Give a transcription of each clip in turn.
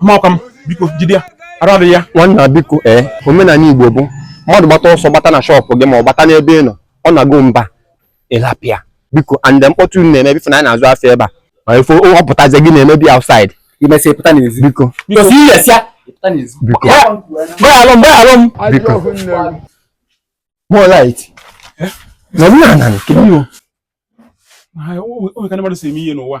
mmakwa m biko jide ya arụ adị ya nwanna biko ee omenala igbo bụ mmadụ gbata ọsọ gbata na shop gị ma ọ gbata n'ebe ị nọ ọ na-agụ mba ị lapụ ya biko and mkpọtụ unu na-eme before na anyị na-azụ afọ ebe a ma ife ọ pụtazi gị na-emebi outside i mesịa ị pụta n'ezi biko biko si ihe sịa ị pụta n'ezi biko gbaghalụ m gbaghalụ m biko more light na m na-ana nke m o. o nwe ka ndị mmadụ si eme ihe n'ụwa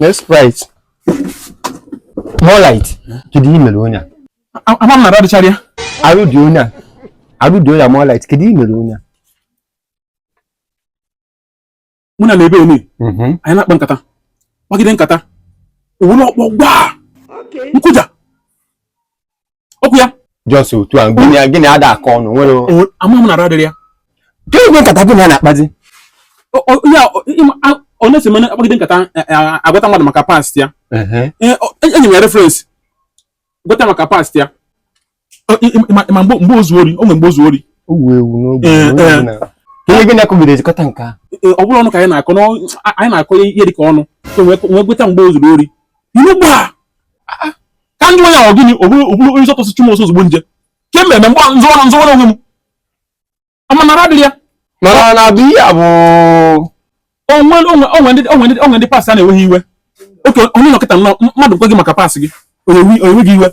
Yes, right. More light. Kedu ihe mere onye a? Ama m na arụ adịchara ya. Arụ dị onye a. Arụ dị onye a more light. Kedu ihe mere onye a? Mụ na ya nọ ebe enu. Mhm. Anyị na-akpa nkata. Kpagide nkata. O welu ọkpọ gbaa. Nkụja. okwu ya just otu a gịnị gịnị ada akọ ọnụ nwere ama m na arụ adịrọ ya ka egwe nkata gị na ya na-akpazi honestly mụ na ya akpagide nkata e, e, agwata mmadụ maka past ya e, enye m ya reference gwata maka past ya ma mgbe o zuu ori o nwere mgbe o zuu ori ihe gị na-akọgide ejikọta nke a ọ bụrụ ọnụ ka anyị na-akọ anyị na-akọ ihe dị ka ọnụ so wee gweta mgbe o zuru ori ilu gbaa ka m jụọ ya ọ gịnị o buru o buru onye sọtọsị chụ m ọsọ ozugbo nje ke mmemme mgbe nzọrọ nzọrọ onwe m ama m na arụ adịrọ ya mana na bụ ihe a bụ o nwe o nwe o nwe ndị o nwe ndị o nwe ndị past ha na-ewe iwe okay onye nọkịta nọ mmadụ gwa gị maka past gị o wee gị iwe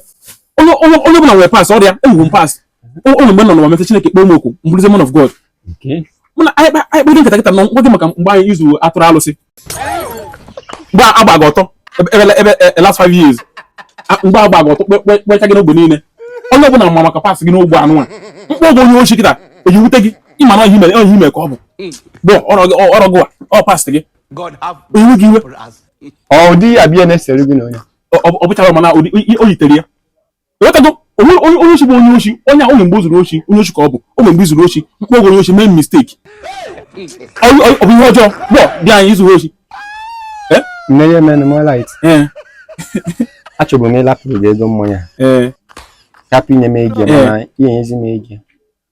onye onye onye ọbụla nwere past ọ rọ ya enwe m past o nwe mgbe m nọ n'ụwa before Chineke kpọọ m oku m bụrụzie man of God mana anyị kpa anyị kpọdo nkata kịta nọ gwa gị maka mgbe i zuu atụrụ alụsị mgbe a gba gị ọtọ ebe e, last five years mgbe a gba gị ọtọ kpecha gị n'ogbe niile onye ọbụla ma maka past gị n'ogbe anụ a m kpọọ gị onye oshi kịta ọ ya-ewute gị ị ma na ọ ihe ọ ihe i me ka ọ bụ but ọ rọ gị ọ past gị ewe gị iwe ọ dị ya bịa na-esere gị na onye ọ bụchara mana o yitere ya ị ghọtago onye oshi bụ onye oshi onye ahụ mgbe o zuru oshi onye oshi ka ọ bụ o mgbe i zuru oshi m kpọọ gị onye oshi mee mistake ọ bụ ihe ọjọọ gbọ di anyị i zuru oshi nne men more light achọbụ m ịlapụrụ gị ego mmanya hapụ inye m ego mana ị ya-enyezi m ego